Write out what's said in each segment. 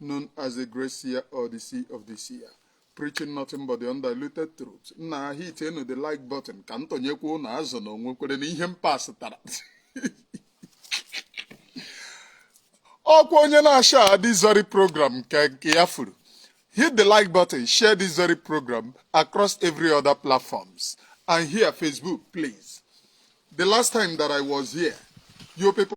known as the Great Seer or the Seer of the Seer. Preaching nothing but the undiluted truth. Now hitienụ the like button ka m tọnyekwa ụnụ azụ na o nwekwerenụ ihe m pasịtara. Ọkwa onye na-ashare this very program nke ya furu. Hit the like button, share this very program across every other platforms and here Facebook, please. The last time that I was here, you people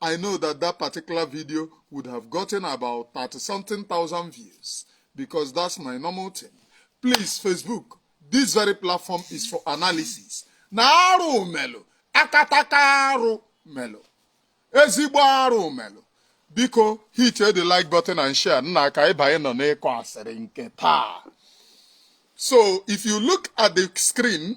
I know that that particular video would have gotten about 30 something thousand views because that's my normal thing. Please, Facebook, this very platform is for analysis. Naru melo, akatakaru melo, ezigbo aru melo. Biko, hit the like button and share. Nna ka ịbanye nọ n'ịkọ asịrị nke taa. So, if you look at the screen,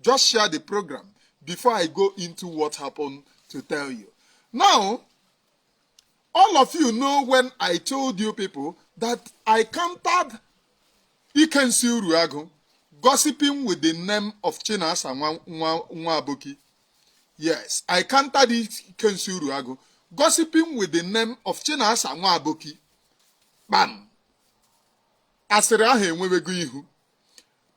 just share the program before i go into what happened to tell you now all of you know when i told you people that i countered ikensi uruagu gossiping with the name of chinasa nwabuki yes i countered ikensi uruagu gossiping with the name of chinasa nwabuki kpam asịrị ahụ enwewego ihu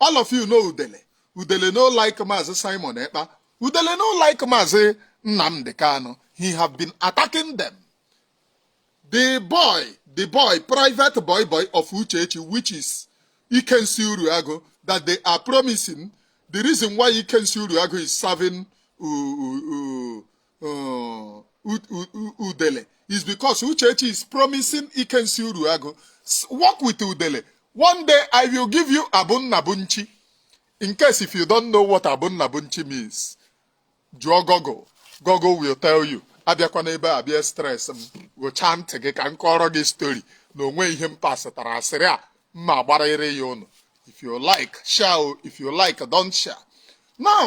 all of you know udele udele no like maazị simon ekpa udele no like maazị nnamdị kanu he have been attacking them the boy the boy private boy boy of uchechi which is ikensi uruago that they are promising the reason why ikensi uruago is serving uh, udele is because uchechi is promising ikensi Uruagụ work with udele one day i will give you abunnabunchi in case if you don't know what abunnabunchi means jụọ Google Google will tell you abịakwana ebe a bịa stress m gụchaa ntị gị ka m kọọrọ gị story na o nwe ihe m pasịtara asịrị a m ma-agbarịrị ya ụnụ if you like share if you like don't share now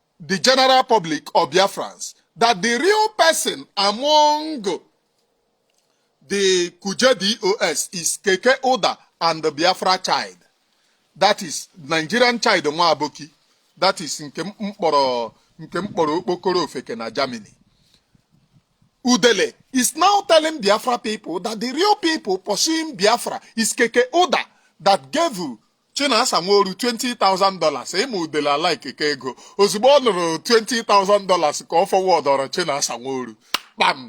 the general public of Biafrans that the real person among the Kuje DOS is Keke Ụda and the Biafra child. That is Nigerian child nwa aboki. That is nke m kpọrọ okpokoro ofeke na Germany. Udele is now telling Biafra people that the real people pursuing Biafra is Keke Ụda that gave Chinasa Nworu 20,000 dollars ị ma udele alaikeka ego ozugbo ọ nụrụ 20,000 dollars ka ọ fọwọdọrọ Chinasa Nworu kpam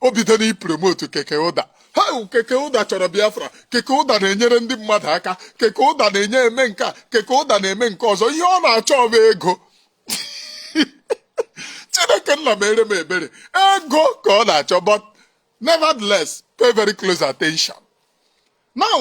o bido n'ipromotu keke ụda ha keke ụda chọrọ Biafra keke ụda na-enyere ndị mmadụ aka keke ụda na-enye eme nke a keke ụda na-eme nke ọzọ ihe ọ na-achọ bụ ego Chineke nna mere m ebere ego ka ọ na-achọ but nevertheless pay very close attention now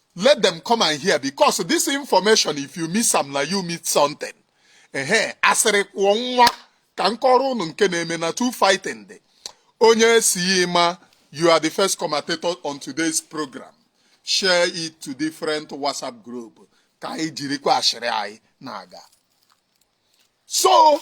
let them come and hear because this information if you miss am na you miss something ehe asịrị kwụọ nwa ka m kọọrọ ụnụ nke na-eme na two fighting dey onye si ma you are the first commentator on today's program share it to different whatsapp group ka anyị jirikwa asịrị anyị na-aga so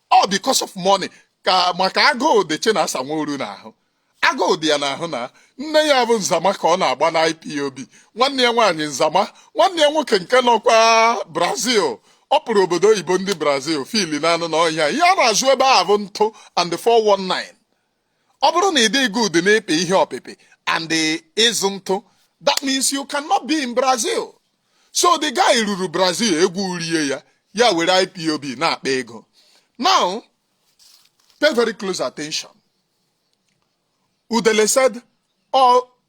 or because of money maka agụụ dị Chinasa Nworu n'ahụ agụụ dị ya n'ahụ na nne ya bụ Nzama ka ọ na-agba na IPOB nwanne ya nwaanyị Nzama nwanne ya nwoke nke nọkwa Brazil ọ pụrụ obodo oyibo ndị Brazil fili na anụ n'ọhịa ihe a na-azụ ebe a bụ ntụ and 419 ọ bụrụ na ị dịghị good n'ịpị ihe ọpịpị and ịzụ ntụ that means you cannot be in Brazil so the guy ruru Brazil egwu erie ya ya were IPOB na-akpa ego now pay very close attention Udele said all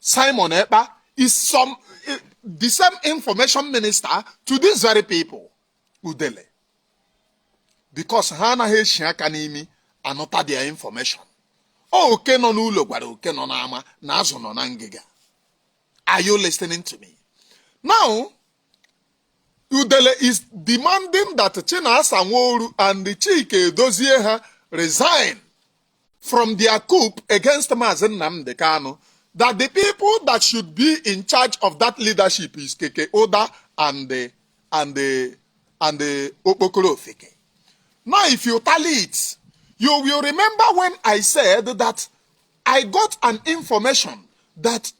Simon Ekpa is some eh, the same information minister to these very people udele because ha anaghị eshi aka n'imi anụta their information oke nọ n'ụlọ gwara oke nọ n'ama na azụ nọ na ngịga are you listening to me now udele is demanding that chinasa nworu and chike edozie ha resign from their coup against Mazi Nnamdi Kanu that the people that should be in charge of that leadership is Keke Ụda and the, and the, and the Okpokoro Ofeke. Now, if you tally it, you will remember when I said that I got an information that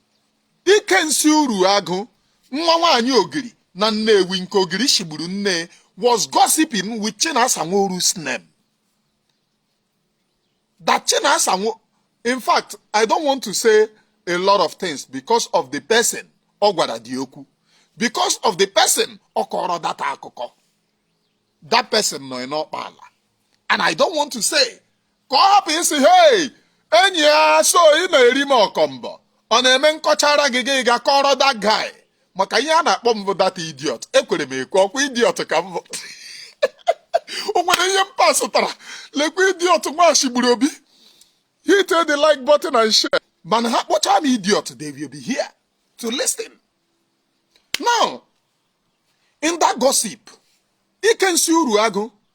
Ikensi Uruagu, nwa nwaanyị Ogiri na Nnewi nke Ogiri shigburu nne was gossiping with Chinasa Nworu's name. that Chinasa Nworu, in fact, I don't want to say a lot of things because of the person ọ gwara the okwu because of the person ọ kọrọ that akụkọ that person nọ n'ọkpa ala and I don't want to say ka ọ hapụ ịsị hey enyi a so ị na-eri m ọkọmbọ ọ na-eme m kọchara gị gị gaa kọọrọ that guy maka ihe a na-akpọ m bụ that idiot ekwere m ekwe ọkwa idiot ka m bụ o nwere ihe m pasụtara lekwa idiot nwa shigburu obi hit the like button and share mana ha kpọcha m idiot they will be here to listen now in that gossip ikensi uru agụ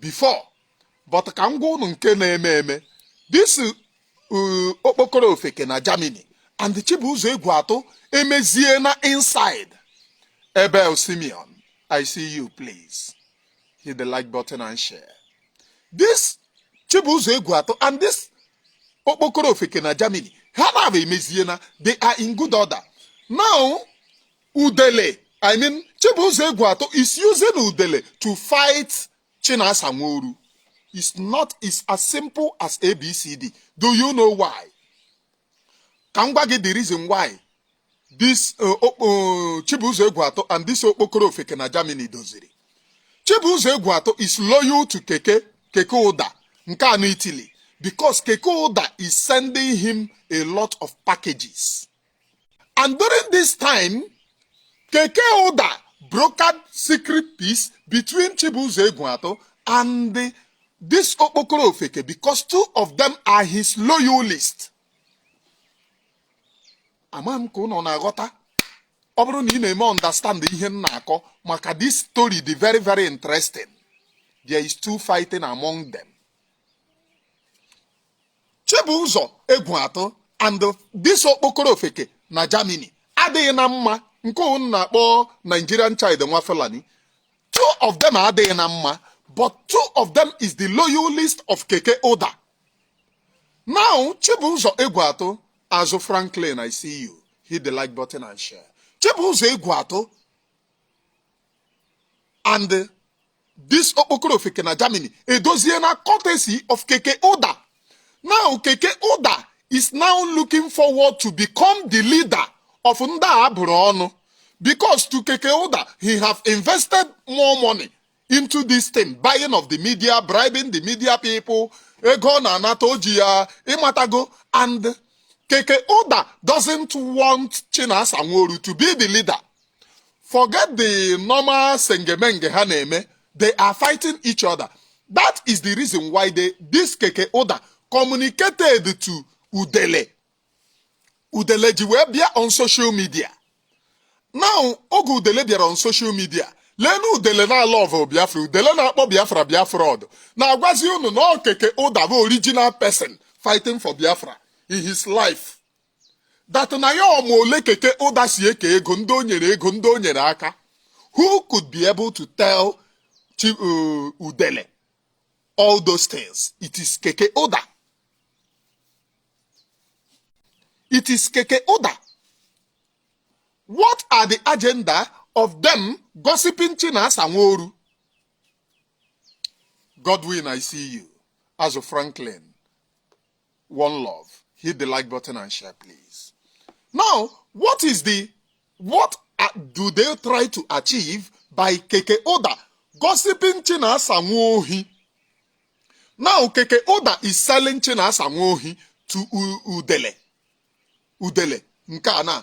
before but ka m gwa unu nke na-eme eme this uh, okpokoro ofeke na Germany and Chibuzo Egwuatụ emeziena inside Abel Simeon I see you please hit the like button and share this Chibuzo Egwuatụ and this okpokoro ofeke na Germany ha naabọ emeziena they are in good order now udele i mean chibụzọ egwuatụ is using udele to fight chinasa nworu is not it's as simple as abcd do you know why ka m gwa gị the reason why this uh, uh, chibụzọ egwuatụ and this okpokoro ofeke na germany doziri chibụzọ egwuatụ is loyal to keke keke ụda nke a nọ italy because keke ụda is sending him a lot of packages And during this time, Keke Ụda brokered secret peace between Chibuzo Egwuatụ and the, this Okpokoro Ofeke because two of them are his loyalists. Ama m ka ụnụ na-aghọta ọ bụrụ na ị na-eme understand ihe m na-akọ maka this story dị very very interesting there is two fighting among them Chibụzọ Egwuatụ and this okpokoro ofeke na Germany adịghị na mma nke ụnụ na-akpọ Nigerian child nwa Fulani two of them adịghị na mma but two of them is the loyalist of Keke Ụda now Chibụzọ Egwuatụ Azụ Franklin I see you hit the like button and share Chibụzọ Egwuatụ and This okpokoro ofeke na Germany edoziena courtesy of Keke Ụda. Now Keke Ụda is now looking forward to become the leader of ndị a bụrụ ọnụ because to Keke Ụda he have invested more money into this thing buying of the media bribing the media people ego ọ na-anata o ji ya ịmatago and Keke Ụda doesn't want Chinasa Nworu to be the leader forget the normal sengemenge ha na-eme they are fighting each other that is the reason why this keke ụda communicated to udele udele ji wee bịa on social media now oge udele bịara on social media leenụ udele na love biafra udele na-akpọ biafra biafra udele na-agwazi unu na ọ keke ụda bụ original person fighting for biafra in his life that na ya ma ole keke ụda si eke ego ndị o nyere ego ndị o nyere aka who could be able to tell Chi- uh, udele all those things it is keke ụda it is keke ụda what are the agenda of them gossiping chinasa nworu godwin i see you azụ franklin one love hit the like button and share please now what is the what do they try to achieve by keke ụda gossiping chinasa nwa ohi now keke ụda is selling chinasa nwa ohi to udele udele nke a na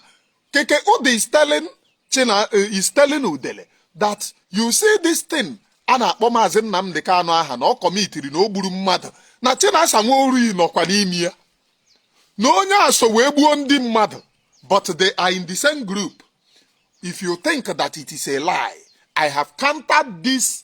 keke ụda is telling china eh, is telling udele that you see this thing a na-akpọ maazị Nnamdi Kanu aha na ọ kọmitiri na o gburu mmadụ na Chinasa Nworu nọkwa n'ime ya na onye a so wee gbuo ndị mmadụ but they are in the same group if you think that it is a lie I have countered this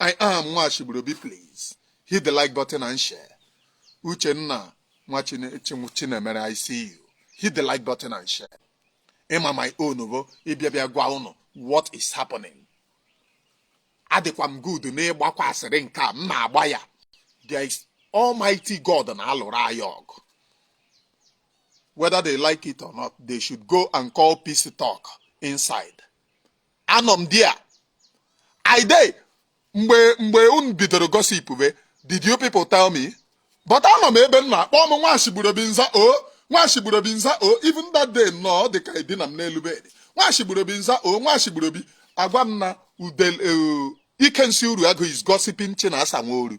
I am Nwashiburobi please hit the like button and share. Uchenna Nwachinemere I see you hit the like button and share. Ị ma my own bụ ịbịa bịa gwa ụnụ what is happening. Adịkwa m good n'ịgbakwa asịrị nke a m na-agba ya. There is Almighty God na-alụrụ anyị ọgụ. whether they like it or not, they should go and call peace talk inside. anọ m dia i dey mgbe mgbe unu bidoro gossip be did you people tell me but anọ m ebe m nọ a kpọọ m Nwashiburobi m za o Nwashiburobi m za o even that day nnọọ dị ka edina m n'elu bed Nwashiburobi m za o Nwashiburobi a gwa m na udel eh, Ikensị Uruagụ is gossiping Chinasa Nworu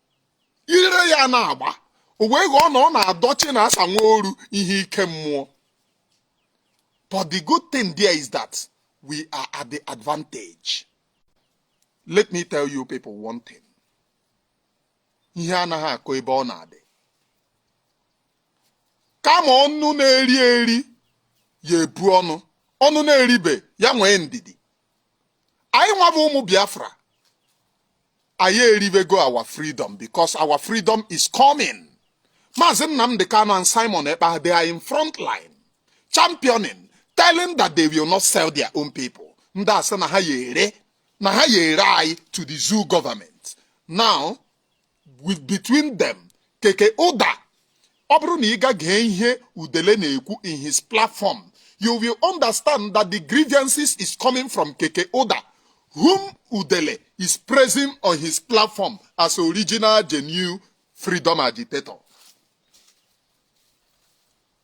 ire ya na-agba o wee ghọọ na ọ na-adọ chinasa nworu ihe ike mmụọ but the good thing there is that we are at the advantage let me tell you people one thing ihe anaghị akọ ebe ọ na-adị kama ọnụ na-eri eri ya ebu ọnụ ọnụ na-eribe ya nwee ndidi anyị nwa bụ ụmụ biafra anyị eribego our freedom because our freedom is coming maazị nnamdi kanu and simon ekpa they are in front line championing telling that they will not sell their own people ndị a sị na ha ya ere na ha ya ere anyị to the zoo government now between them keke ụda ọ bụrụ na ị gaa gee ihe udele na-ekwu in his platform you will understand that the grievances is coming from keke ụda whom udele is praising on his platform as original genuine freedom agitator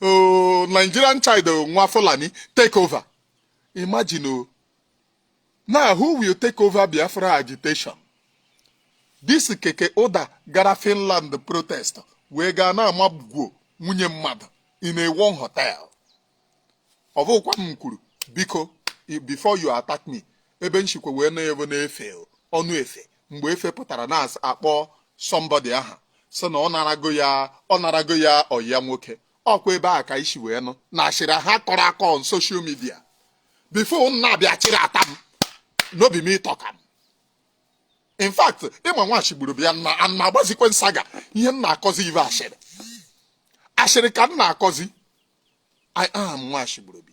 oh, Nigerian child oh, nwa Fulani take over imagine o oh. now who will take over Biafra agitation this keke ụda gara Finland protest wee gaa na-amago nwunye mmadụ in a one hotel ọ bụkwa m kwuru biko before you attack me ebe m sikwa wee nụ ya bụ n'Efe ọnụ Efe mgbe efe pụtara na-akpọ somebody aha sị na ọ narago ya ọyị ya nwoke ọkwa ebe a ka i si wee nụ na asịrị ha kọrọ akọ on social media before unu abịa chịrị ata m no be me talk am in fact ịma nwachi gburu bịa na ana agbazikwe nsaga ihe m na-akọzi bụ asịrị asịrị ka m na-akọzi i am nwachi gburu bi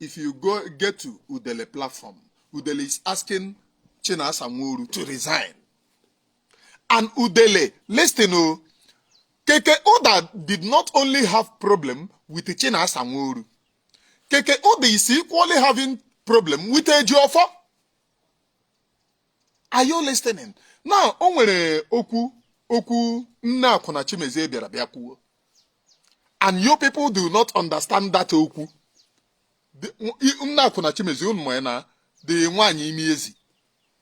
if you get to Udele platform, Udele is asking Chinasa Nworu to resign. And Udele, listen, oh, Keke Ụda did not only have problem with Chinasa Nworu. Keke Ụda is equally having problem with Ejiofor. Are you listening? Now, o nwere okwu Okwunna akwụna Chimezie bịara bịa kwuo. and you people do not understand that okwunna akwụna chimezie unu ma na the nwaanyị imi ezi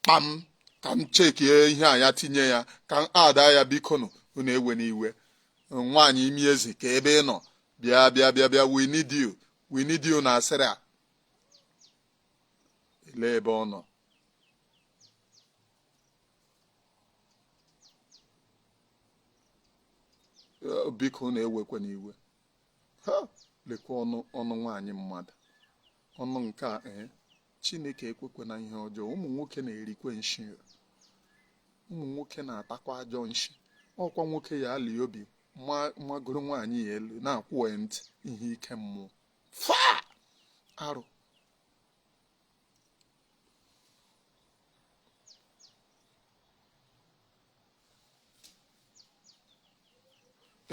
kpam ka m chekie ihe a ya tinye ya ka m ada ya bikonu unu ewena iwe nwaanyị imi ezi kee ebe ị nọ bịa bịa bịa bịa we need you we need you n'asịrị a elee ebe ọ nọ Eh, biko na ewekwena iwe ha lekwa ọnụ ọnụ nwaanyị mmadụ ọnụ nke a ee eh, chineke ekwekwena ihe ọjọọ ụmụ nwoke na-erikwe nshi ụmụ nwoke na-atakwa ajọ nshi ọ kwa nwoke ya ali obi magoro nwaanyị ya elu na-akwụ ya ntị ihe ike mmụọ fa arụ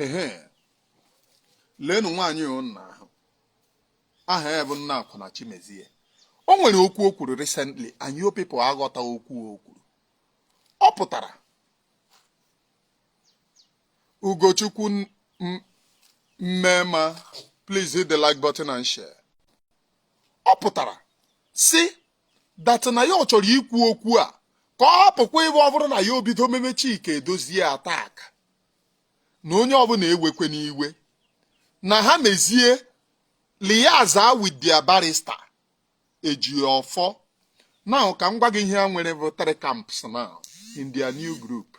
ehe leenụ nwaanyị ụnna ahụ aha ya bụ nna akwụna Chimezie o nwere okwu o kwuru recently and you people aghọta okwu o kwuru ọ pụtara Ugochukwu Mmema please hit the like button and share ọ pụtara si that na ya ọ chọrọ ikwu okwu a ka ọ hapụkwa ịbụ ọ bụrụ na ya obido meme Chika Edozie attack na onye ọbụla ewekwena iwe na ha mezie liaza with their barrister Ejiofor now ka m gwa gị ihe ha nwere bụ three camps now in their new group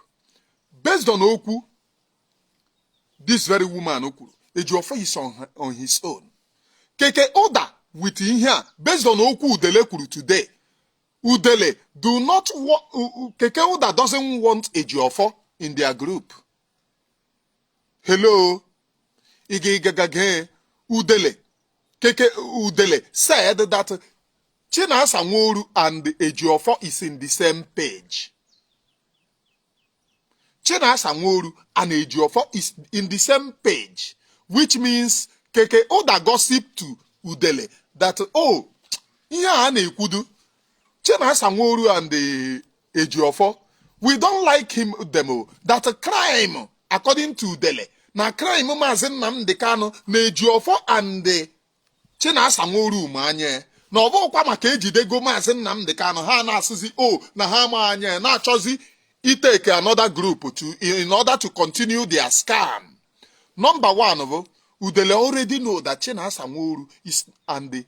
based on okwu this very woman kwuru Ejiofor is on, her, on his own keke ụda with ihe a based on okwu udele kwuru today udele do not keke ụda doesn't want Ejiofor in their group hello igigagage udele keke udele said that Chinasa Nworu and Ejiofor is in the same page Chinasa Nworu and Ejiofor is in the same page, which means Keke Ụda gossip to Udele that, oh, ihe a na-ekwudu Chinasa Nworu and eh, Ejiofor, we don't like him them oh, that crime according to Udele na crime Maazị Nnamdi Kanu na Ejiofor and eh, Chinasa Nworu ma anya na ọ bụkwa maka ejidego maazị Nnamdị Kanụ ha na-asịzi o oh, na ha ma anya na-achọzi ịtake another group to in order to continue their scam number one bụ Udele already know that Chinasa Nworu is and the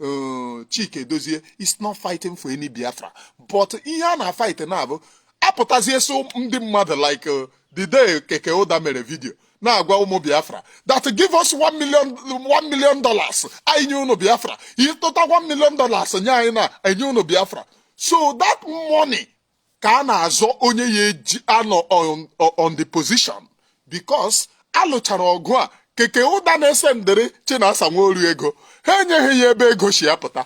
uh, Chike Edozie is not fighting for any Biafra but ihe a na-fight now bụ apụtazie so ndị mmadụ like uh, the day Keke Ụda mere video na-agwa ụmụ biafra that give us one million one million dollars anyị nye ụnụ biafra ị tụta one million dollars nye anyị na enye ụnụ biafra so that money ka a na-azọ onye ya eji anọ on the position because a lụchara ọgụ a keke ụda na-asendịrị Chinasa Nworu ego ha enyeghị ya ebe ego si apụta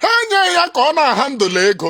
ha enyeghị ya ka ọ na-ahandle ego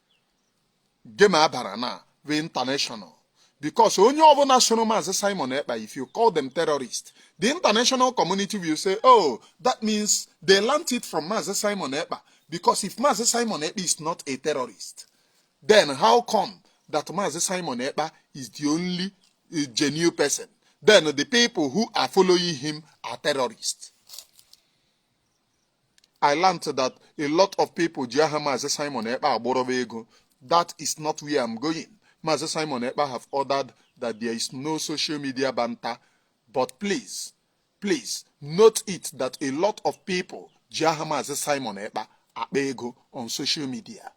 game abara na bụ international because onye ọbụla soro maazị simon ekpa if you call them terrorist the international community will say oh that means they learnt it from maazị simon ekpa because if maazị simon ekpa is not a terrorist then how come that maazị simon ekpa is the only eh, genuine person then the people who are following him are terrorists I learned that a lot of people ji aha Maazị Simon Ekpa agbọrọba ego that is not where I'm going Maazị Simon Ekpa have ordered that there is no social media banta but please please note it that a lot of people ji aha Maazị Simon Ekpa akpa ego on social media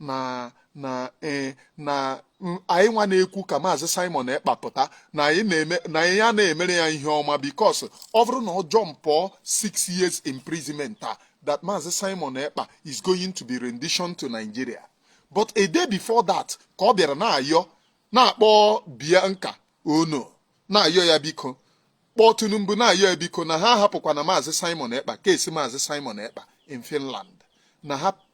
na na ee na anyị nwa na-ekwu ka maazị Simon Ekpa pụta na anyị na-eme na anyị ya na-emere ya ihe ọma because ọ bụrụ na ọ jumpụọ six years imprisonment a that maazị Simon Ekpa is going to be rendition to Nigeria but a day before that ka ọ bịara na-ayọ na-akpọ Bianca Onoh na-ayọ ya biko kpọọ Tinubu na-ayọ ya biko na ha hapụkwana maazị Simon Ekpa case maazị Simon Ekpa in Finland na ha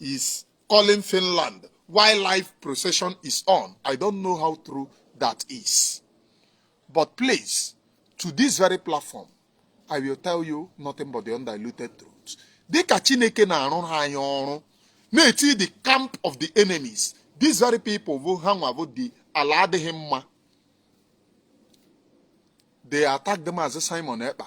is calling Finland while live procession is on. I don't know how true that is. But please, to this very platform, I will tell you nothing but the undiluted truth. Dịka Chineke na-arụ ha anyị ọrụ na-eti the camp of the enemies these very people bụ ha nwa bụ ndị ala adịghị mma they attacked maazị Simon Ekpa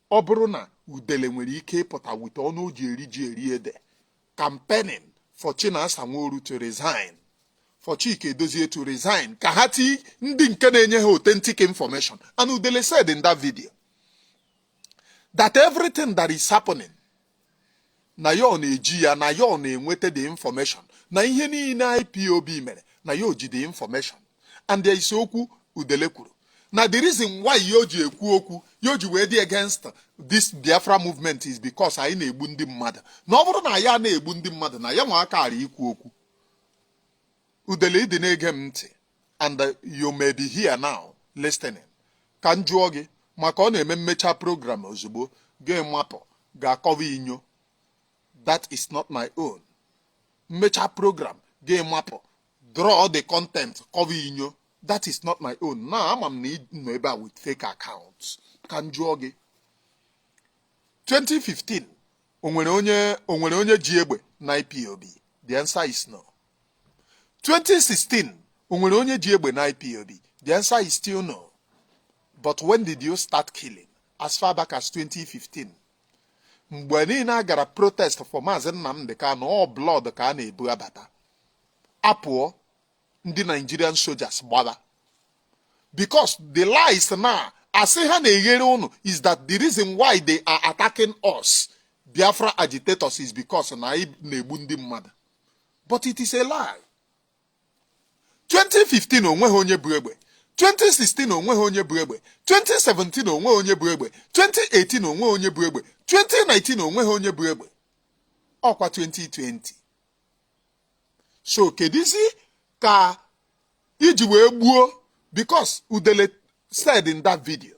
ọ bụrụ na udele nwere ike ịpụta with ọnụ o ji eri ji eri ede campaigning for Chinasa Nworu to resign for Chika Edoziem to resign ka ha ti ndị nke na-enye ha authentic information and udele said in that video that everything that is happening na ya ọ na-eji ya na ya ọ na-enweta the information na ihe niile IPOB mere na ya o ji the information and there is okwu udele kwuru na the reason why ya o ji ekwu okwu ya o ji wee dị against this Biafra movement is because anyị na-egbu ndị mmadụ na ọ bụrụ na anyị ana-egbu ndị mmadụ na ya nwa akara ikwu okwu udele ị dị na-ege m ntị and uh, you may be here now listening ka m jụọ gị maka ọ na-eme m mechaa program ozugbo gị mapụ gaa kọwa inyo that is not my own m mechaa program gị mapụ draw the content kọwa inyo that is not my own na ama m na ị nọ ebe a with fake accounts ka m jụọ gị 2015 o nwere onye o nwere onye ji egbe na IPOB the answer is no 2016 o nwere onye ji egbe na IPOB the answer is still no but when did you start killing as far back as 2015 mgbe niile a gara protest for Maazị Nnamdi Kanu ọ blood ka a na-ebu abata apụọ ndị Nigerian soldiers gbara because the lies na asị ha na-eghere ụnụ is that the reason why they are attacking us Biafra agitators is because na anyị na-egbu ndị mmadụ but it is a lie 2015 o nweghị onye bu egbe 2016 o nweghị onye bu egbe 2017 o nweghị onye bu egbe 2018 o nweghị onye bu egbe 2019 o nweghị onye bu egbe ọkwa 2020 so kedizi ka i ji wee gbuo because udele said in that video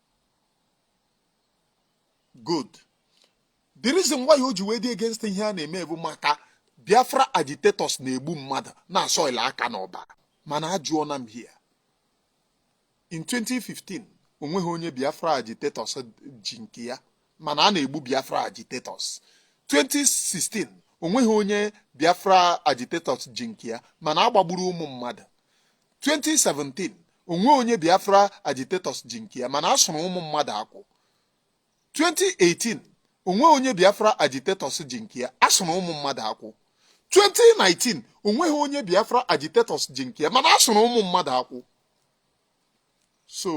good the reason why o ji wee dị against ihe a na-eme bụ maka biafra agitators na-egbu mmadụ na-asoil aka n'ọbara mana ajụọ na m here in 2015 onweghị onye biafra agitators ji nke ya mana a na-egbu biafra agitators 2016 onweghị onye biafra agitators ji nke ya mana agbagburu ụmụ mmadụ 2017 onweghị onye Biafra agitators ji nke ya mana a sụrụ ụmụ mmadụ akwụ 2018 onweghị onye Biafra agitators ji nke ya a sụrụ ụmụ mmadụ akwụ 2019 onweghị onye Biafra agitators ji nke ya mana a sụrụ ụmụ mmadụ akwụ so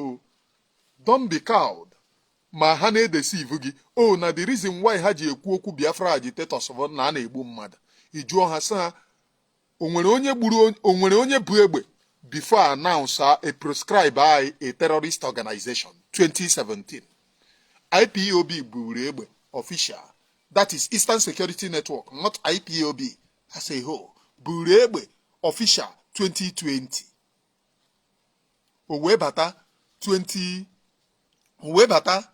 don't be cowed ma ha na-edeceive gị oh, na the reason why ha ji ekwu okwu Biafra agitators bụ na a na-egbu mmadụ ị jụọ ha sị ha o nwere onye bu egbe before I announce a proscribe anyị a terrorist organization 2017 IPOB buru egbe official that is Eastern Security Network not IPOB as a whole buru egbe official 2020 o wee bata 20 o wee bata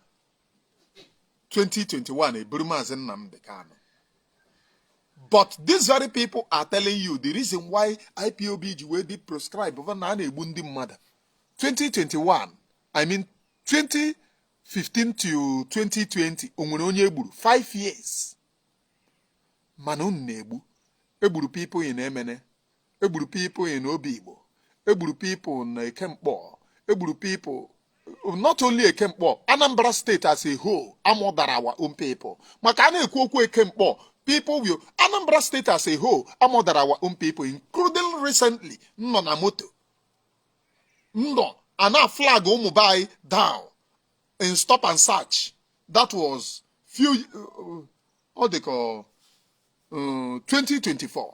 2021 eburu Maazị Nnamdi Kanu but these very people are telling you the reason why IPOB ji wee dị proscribe bụ na a na-egbu ndị mmadụ 2021 I mean 2015 to 2020 o nwere onye egburu 5 years mana unu na-egbu egburu people in Emene egburu people in obigbo egburu people na eke nkpor egburu people not only eke nkpor anambra state as a whole a murderra our own people maka a na-ekwu okwu eke nkpor people will anambra state as a whole a murderra our own people including recently nọ na moto no a na-aflag ụmụ be anyị down in stop and search that was few uh, ọ dị ka 2024 uh,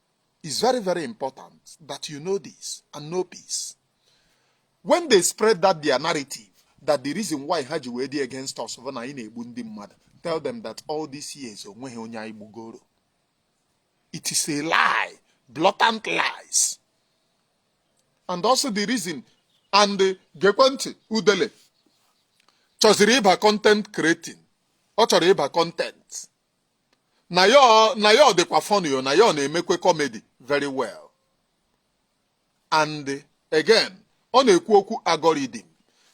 It's very, very important that you know this and know peace. When they spread that their narrative, that the reason why ha ji wee dị against us bụ na anyị na-egbu ndị mmadụ tell them that all these years onweghị onye anyị gbugoro it is a lie blatant lies and also the reason and gekwe ntị udele chọziri ịba content creating ọ chọrọ ịba content na ya ọ- na ya ọ dịkwa funny o na ya ọ na-emekwe comedy very well and again ọ na-ekwu okwu algorithm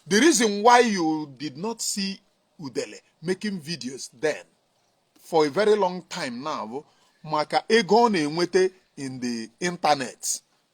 the reason why you did not see udele making videos then for a very long time now bụ maka ego ọ na-enweta in the internet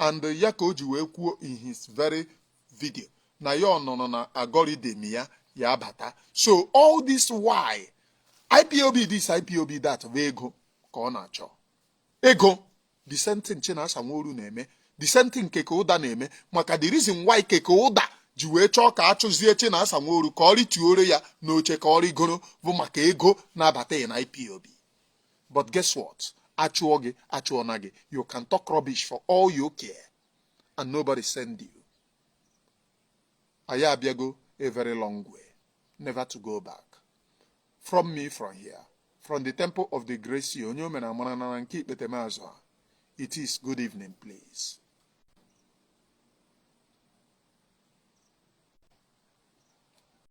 and ya ka o ji wee kwuo in his very video na ya ọ nọrọ na algorithm ya ya abata so all this while ipob this ipob that bụ ego ka ọ na-achọ ego the same thing Chinasa Nworu na-eme the same thing Keke Ụda na-eme maka the reason why Keke Ụda ji wee chọọ ka a chụzie Chinasa Nworu ka ọ rịtuoro ya n'oche ka ọ rịgoro bụ maka ego na-abata ya na ipob but guess what a chụọ gị a chụọna gị you can talk rubbish for all you care and nobody send you anyị abịago a very long way never to go back from me from here from the temple of the grace onye omena amara na nke ikpete mazụ a it is good evening please